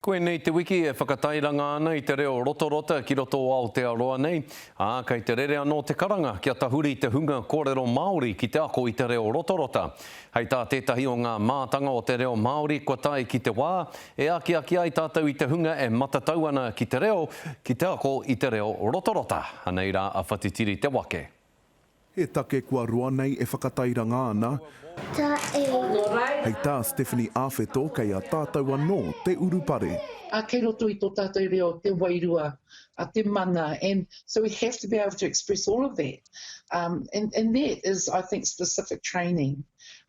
Koinei te wiki e whakatairanga ana i te reo rotorota ki roto o Aotearoa nei, ā, kei te rere anō te karanga kia tahuri te hunga kōrero Māori ki te ako i te reo rotorota. Hei tā tētahi o ngā mātanga o te reo Māori kua tae ki te wā e akiaki ai tātou i te hunga e matatau ana ki te reo ki te ako i te reo rotorota, anei rā a Whatitiri Te Wake. He take kua roa nei e whakatairanga ana. Ta e. Hei tā Stephanie Awheto kei a tātou anō te urupare. A kei roto i tō tātou reo te wairua, a te mana and so we have to be able to express all of that um and and that is I think specific training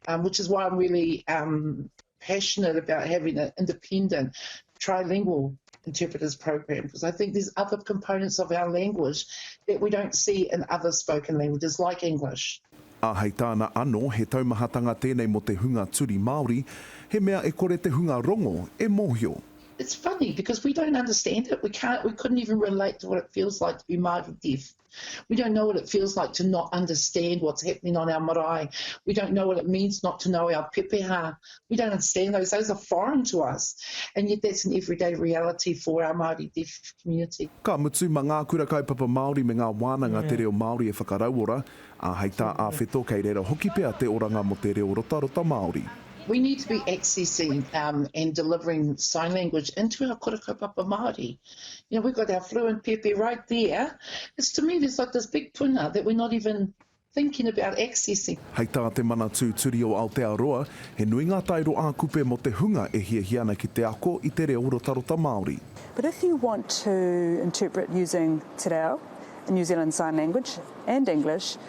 um which is why I'm really um passionate about having an independent trilingual interpreters program because I think there's other components of our language that we don't see in other spoken languages like English. Ā, hei tāna anō, he taumahatanga tēnei mō te hunga turi Māori, he mea e kore te hunga rongo e mōhio. It's funny because we don't understand it, we can't, we couldn't even relate to what it feels like to be Māori deaf. We don't know what it feels like to not understand what's happening on our marae. We don't know what it means not to know our pepeha. We don't understand those. Those are foreign to us. And yet that's an everyday reality for our Māori deaf community. Ka mutu, ma ngā Kura Kaupapa Māori me ngā wānanga te reo Māori e whakarauora, ā, hei tā a Wheto kei reira hoki pea te oranga mō te reo rotarota Māori. We need to be accessing um, and delivering sign language into our Kura Kaupapa Māori. you know, we've got our fluent pepe right there. It's to me, there's like this big puna that we're not even thinking about accessing. Hei tā te Manatū Turi o Aotearoa, he nui ngā taero ā-kupe mō te hunga e hiahia ana ki te ako i te reo rotarota Māori. But if you want to interpret using te reo, New Zealand Sign Language and English,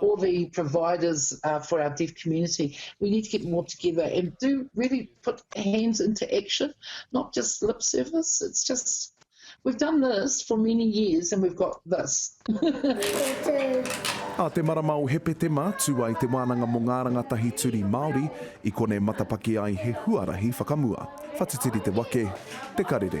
all the providers uh, for our deaf community. We need to get more together and do really put hands into action, not just lip service. It's just, we've done this for many years and we've got this. A te marama o Hepetema, tū ai te wānanga mō ngā rangatahi turi Māori i kone matapaki ai he huarahi whakamua. Whatitiri te wake, te karere.